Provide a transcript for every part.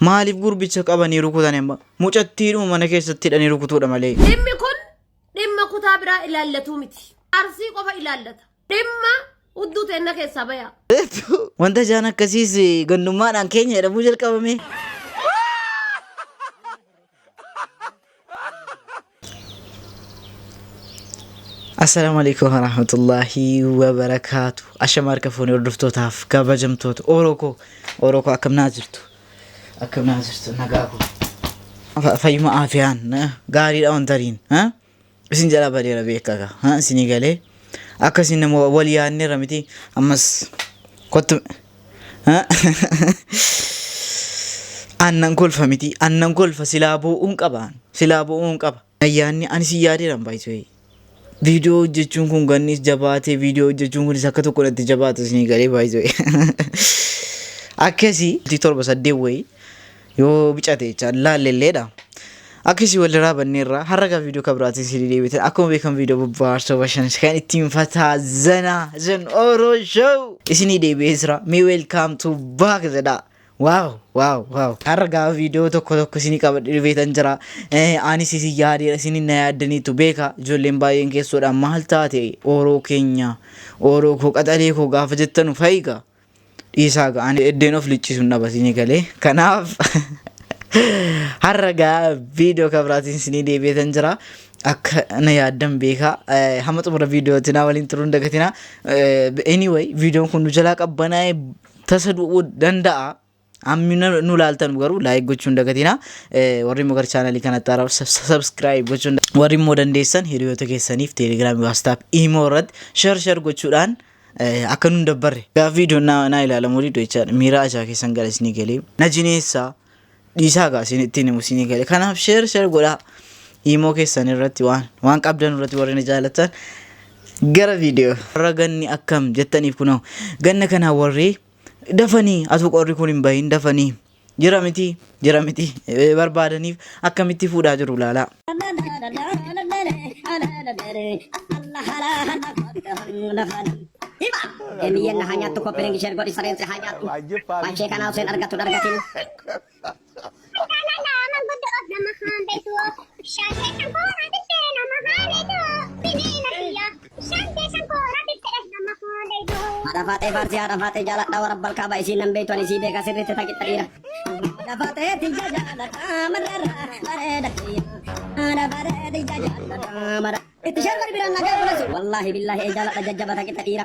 Maaliif gurbicha qabanii rukutani amma? Mucattiidhuma mana keessatti hidhanii rukutuudha malee. Dhimmi kun dhimma kutaa biraa ilaallatuu miti. Arsii qofa ilaallata. Dhimma hudduu teenna keessaa bayaa. Wanta jaan akkasiis gandummaadhaan keenya jedhamuu jalqabame. Assalaamu alaikum warahmatullahi wabarakaatu. Ashama harka fuunee hordoftootaaf kabajamtoota Oro koo Oro koo akkam naa jirtu akkam naa jirtu nagaa koo Fa- fayyuma aafiyaan eh, gaariidha wantariin eh? isin jalaa badeera beekaa kaa ha isinii galee akka isin nama wal yaadneerra miti ammas kottu ha annan kolfa miti annan kolfa silaa boo'uun qabaan silaa boo'uun qaba ayyaanni ani si yaadeeran baay'isee viidiyoo hojjechuun kun gannis jabaatee viidiyoo hojjechuun kunis akka tokko natti jabaata isinii galee baay'isee akkasii torba saddeet wayii Yoo bicate jecha laalle illeedha. Akkasii walirraa banneerra har'a kan viidiyoo kan biraatiin isin deebitan akkuma beekamu viidiyoo bobbaarsoo bashannansiisaa kan ittiin fataa zanaa zan oro show isinii deebi'ee jira mee welcome to back jedhaa. Waaw waaw waaw har'a gaa viidiyoo tokko tokko isinii qabadhe dhufeetan jira Eh, anis isin yaadeera isin na yaaddaniitu beeka ijoolleen baay'een keessoodha maal taate ooroo keenya ooroo koo qaxalee koo gaafa jettanu fayiga Dhiisaa gaa ani eddeen of liccisuun dhabatini galee kanaaf har'a gaa viidiyoo kan biraatiin sinii deebi'eetan jira akka na yaaddan beekaa Eh, hamma xumura viidiyootti naa waliin turuun dagatina Eh, anyway viidiyoon kun nu jalaa qabbanaa'ee tasa du'uu danda'a Ammi nu laaltan garuu laayik gochuun dagatina. Warri immoo gara chaanalii kanatti haaraaf sabskiraayib gochuun warri immoo dandeessan hiriyoota keessaniif teelegiraamii waastaap imoo irratti shar shar gochuudhaan akka nun dabbarre. Gaaffii idoon naa ilaalamu diddu jechaadha. Miira ajaa keessan gara isinii galee na jineessaa dhiisaa gaa isin ittiin himu isinii galee. Kanaaf shar shar godhaa imoo keessan irratti waan waan qabdan irratti warri na jaalatan gara viidiyoo. Warra ganni akkam jettaniif kunoo ganna kanaa warri Dafanii atuu qorri kun hin bahin dafanii jira miti jira miti eh, barbaadaniif akkamitti fuudhaa jiru laalaa. Emiyyeen na haa nyaattu koppiliin ishee godhi sareen si haa nyaattu. Waan ishee kanaa osoo hin argattu hin argatin. Haadha faatee faarsii haadha faatee jaaladha warra balkaa baay'ee isiin nan beektu ani isii beeka sirriitti taqixa dhiira. Haadha faatee tiyya jaaladha marrarra bareeda dhiira. Haadha faatee tiyya jaaladha marra. Itti sharbar biraan nagaa godhatu. Wallaahi billaahi ee jaaladha jajjaba taqixa dhiira.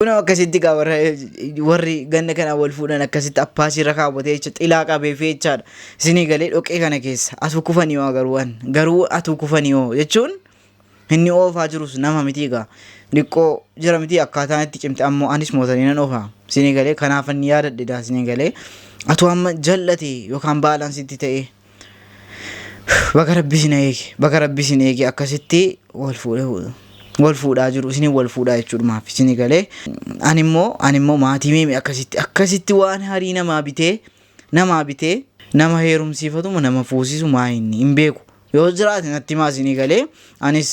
Kunoo akkasitti gaa warra warri ganna kana wal fuudhan akkasitti appaasii irra kaawwatee jecha xilaa qabee fi jechaadha. Isinii galee dhoqee kana keessa atuu kufanii hoo garuu waan garuu atuu kufanii hoo jechuun inni oofaa jirus nama miti egaa. Diqqoo jira miti akkaataan itti cimte ammoo anis mootanii nan oofa. Isinii galee kanaaf inni yaadadhe daa isinii galee atuu amma jal'ate yookaan baalaansitti ta'ee. Baga rabbi isin eege baga rabbi isin eege akkasitti wal fuudhee fuudhu. wal fuudhaa jiru isinin wal fuudhaa jechuudhumaaf isini galee ani immoo ani immoo maatii meemi akkasitti akkasitti waan harii namaa bitee namaa bitee nama heerumsiifatuma nama fuusisu maa inni hin beeku yoo jiraate natti himaa isini galee anis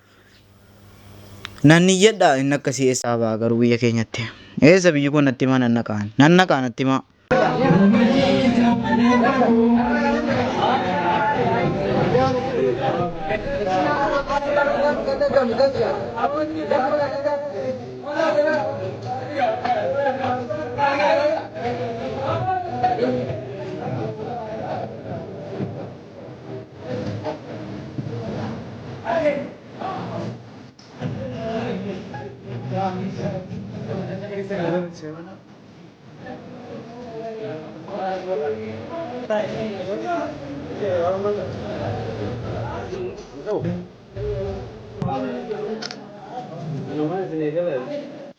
Nan iyyadha inni akkasii eessaa ba'a garuu biyya keenyatti. Eessa biyyi koo natti himaa nan naqaa. Nan naqaa natti himaa. Thank you.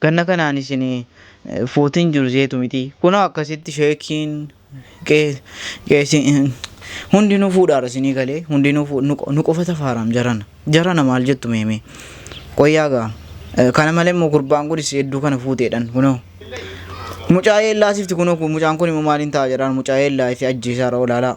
Ganna kanaan isin footiin jiru seetu mitii. Kunoo akkasitti sheekiin Hundinuu fuudhaadha isinii galee hundinuu nu qofa tafaaraam jarana jarana maal jettu meemee qoyyaa gaa kana malee immoo gurbaan kunis hedduu kana fuuteedhan kunoo mucaa yeellaasifti kunoo mucaan kun immoo maaliin ta'a jedhaan mucaa yeellaa itti ajjeesaara olaalaa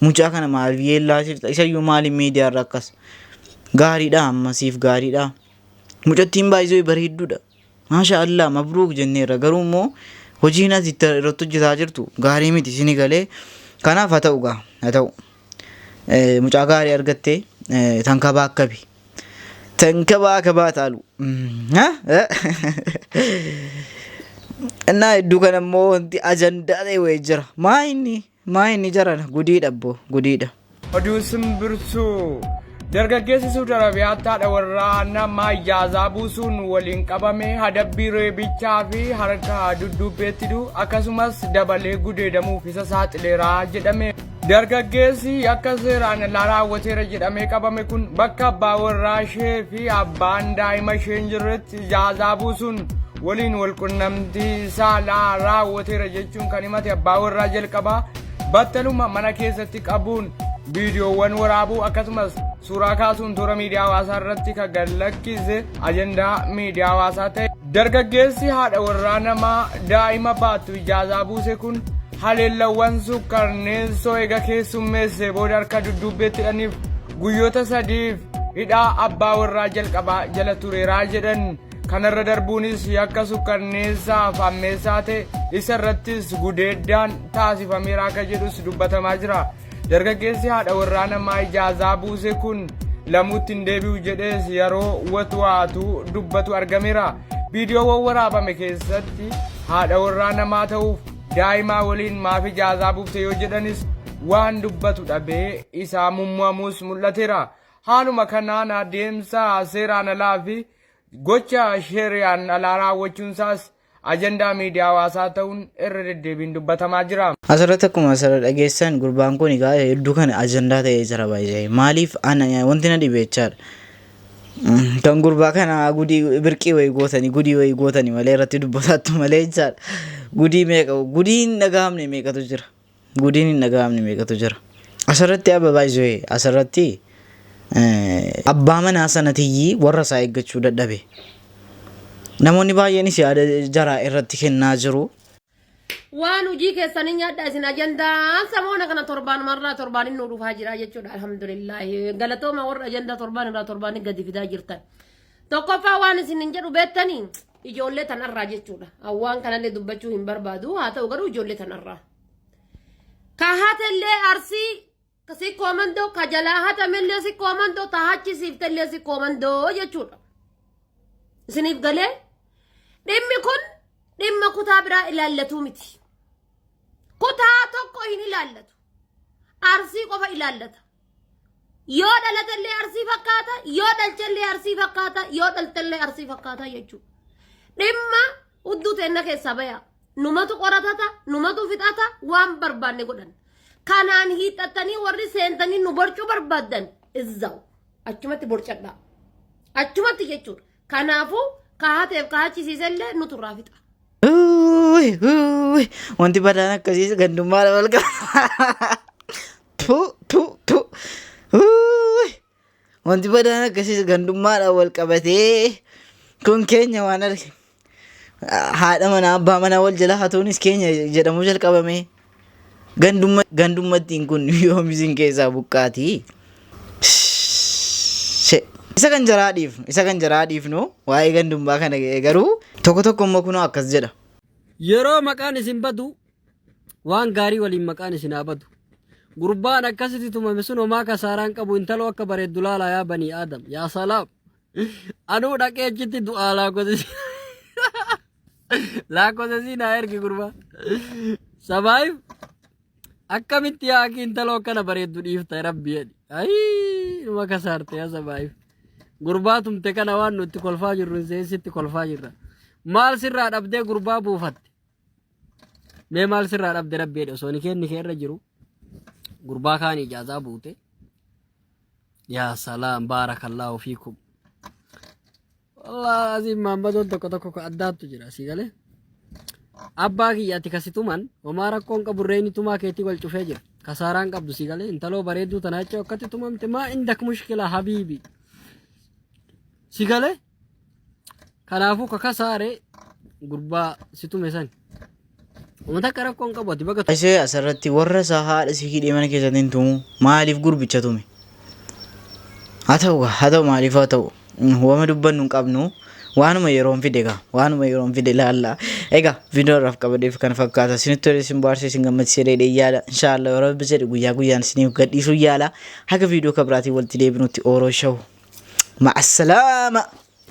Mucaa kana maaliif yeellaasifta? Isayyuu maaliif miidiyaarra akkas? Gaariidha amma siif gaariidha. Mucattiin baay'isoo bareedduudha. Maasha Allah mabruuk jenneerra garuu immoo hojiin as itti irratti hojjetaa jirtu gaarii miti sini galee kanaaf haa ta'u gaa haa ta'u. Eh, Mucaa gaarii argattee eh, tankabaa akkabi. Tankabaa akabaa taalu. Mm, ha? Eh? Innaa hedduu kana immoo wanti ajandaa ta'e wayii jira. Maa inni? Maa inni jarana gudiidha abbo gudiidha. Oduu simbirtuu! Dargaggeessi Suud Arabiyaatti haadha warraa namaa ijaazaa buusuun waliin qabame hadabbii reebichaa fi harka dudduubbeetti du'u akkasumas dabalee gudeedamuuf isa saaxileera jedhame. Dargaggeessi yakka seeraan alaa raawwateera jedhamee qabame kun bakka abbaa warraa ishee fi abbaan daa'ima ishee hin jirretti ijaazaa buusuun waliin walqunnamtii saalaa raawwateera jechuun kan himate abbaa warraa jalqabaa battaluma mana keessatti qabuun viidiyoowwan waraabuu akkasumas suuraa kaasuun toora miidiyaa hawaasaa irratti kan gad lakkise ajandaa miidiyaa hawaasaa ta'e. Dargaggeessi haadha warraa namaa daa'ima baattu ijaazaa buuse kun haleellawwan sukkarneessoo eega keessummeessee booda harka dudduubbeetti hidhaniif guyyoota sadiif hidhaa abbaa warraa jalqabaa jala tureeraa jedhan. Kanarra darbuunis yakka sukkanneessaa fi hammeessaa ta'e isa irrattis gudeeddaan taasifameera akka jedhus dubbatamaa jira. Dargaggeessi haadha warraa namaa ijaazaa buuse kun lamuutti hin deebi'u jedhees yeroo watwaatu dubbatu argameera. Viidiyoowwan waraabame keessatti haadha warraa namaa ta'uuf daa'imaa waliin maaf ijaazaa buufte yoo jedhanis waan dubbatu dhabee isaa mummuamuus mul'ateera. Haaluma kanaan adeemsa seeraan alaa fi gocha sheeriyaan alaa raawwachuunsaas ajandaa miidiyaa hawaasaa ta'uun irra deddeebiin dubbatamaa jira. Asirratti akkuma asirra dhageessan gurbaan kun egaa hedduu kana ajandaa ta'ee jira baay'ee. Maaliif ana wanti na dhibe jechaadha. Mm, Kan gurbaa kana gudii birqii wayii gootanii gudii wayii gootanii malee irratti dubbataattu malee jechaadha. Gudii meeqa gudiin dhagahamne meeqatu jira. Gudiin hin dhagahamne meeqatu jira. Asirratti abba by the way asirratti abbaa manaa sanatiyyii warra isaa eeggachuu dadhabe. Namoonni baay'eenis yaada jaraa irratti kennaa jiru. Waan hojii keessanii nyaadhaa isin ajandaan samoona kana torbaan marraa torbaan inni dhufaa jira jechuudha alhamdulillah galatooma warra ajandaa torbaan irraa torbaan gadi fidaa jirtan. Tokkoffaa waan isinin jedhu beektanii ijoollee tanarraa jechuudha. Waan kanallee dubbachuu hin barbaadu haa ta'u garuu ijoollee tanarraa. Ka hatellee arsii ka si koomandoo ka jalaa hatamellee si koomandoo ta hachisiiftellee si koomandoo jechuudha. Isiniif galee dhimmi kun dhimma kutaa biraa ilaallatu miti. Kutaa tokko hin ilaallatu. Arsii qofa ilaallata. Yoo dhalatellee arsii fakkaata, yoo dhalchellee arsii fakkaata, yoo dhaltellee arsii fakkaata jechuudha. Dhimma hudduu teenna keessaa baya. Numatu qoratata, numatu fixata, waan barbaanne godhan. Kanaan hiixxattanii warri seentanii nu borcuu barbaaddan izzaa'u. Achumatti borcadhaa. Achumatti jechuudha. Kanaafuu kaateef kaachisiisellee nutu irraa fixa. Uuy, uuy, Wanti badaan akkasiis gandummaadha wal qaba. Tu, tu, tu. Uuy, Wanti badaan akkasiis gandummaadha wal qabatee. Kun keenya waan arge. Haadha manaa abbaa manaa wal jala hatuunis keenya jedhamuu jalqabame. Gandumma- Gandummattiin kun yoom isin keessaa buqqaati? She. Isa kan jaraa dhiifnu, isa kan jaraa dhiifnu waa'ee gandummaa kana ga'e garuu tokko tokko immoo kunoo akkas jedha. Yeroo maqaan isin badu waan gaarii waliin maqaan isin haa badu. Gurbaan akkasitti tumame sun homaa kasaaraan qabu intaloo akka bareeddu laalaa yaa banii aadam. Yaa salaam. Anuu dhaqee achitti du'aa laakosisi. Laakosisi naa ergi gurbaa. Sabaayif akkamitti yaa akii intaloo akkana bareeddu dhiifta rabbi jedhi. Ayii numa kasaarte yaa sabaayif. Gurbaa tumte kana waan nutti kolfaa jirru hin seesitti kolfaa jirra. Maal sirraa dhabdee gurbaa buufatte? Mee maal sirraa dhabde rabbi jedhe osoo nikeen nikee irra jiru gurbaa kaan ijaazaa buute. Yaa salaam baarakallaahu fiikum. Wallah asiin maammadoon tokko tokko ka addaattu jira sii galee. Abbaa kiyya ati kasituman homaa rakkoon qabu reeni tumaa keetii wal cufee jira. Kasaaraan qabdu sii galee intaloo bareedduu tanaa jechuu akkatti tumamte maa indak mushkila habiibi. Sii galee? Kanaafuu kakasaare gurbaa si tume san. Uummata akka rakkoo hin qabu ati baga tume. Ishee asirratti warra isaa haadha si hidhee mana keessatti hin tumu maaliif gurbicha tume? Haa ta'u gaa haa ta'u maaliif haa ta'u wama dubbannu hin qabnu waanuma yeroon fide gaa waanuma yeroon fide laalla egaa viidiyoo irraaf qabadeef kana fakkaata isinitti tolee isin baarsee isin gammachiisee dheedhee yaala inshaallah yoo rabbi jedhe guyyaa guyyaan isiniif gadhiisuu yaala Haga viidiyoo ka biraatiin walitti deebinutti Ooroo Show. Ma'assalaama!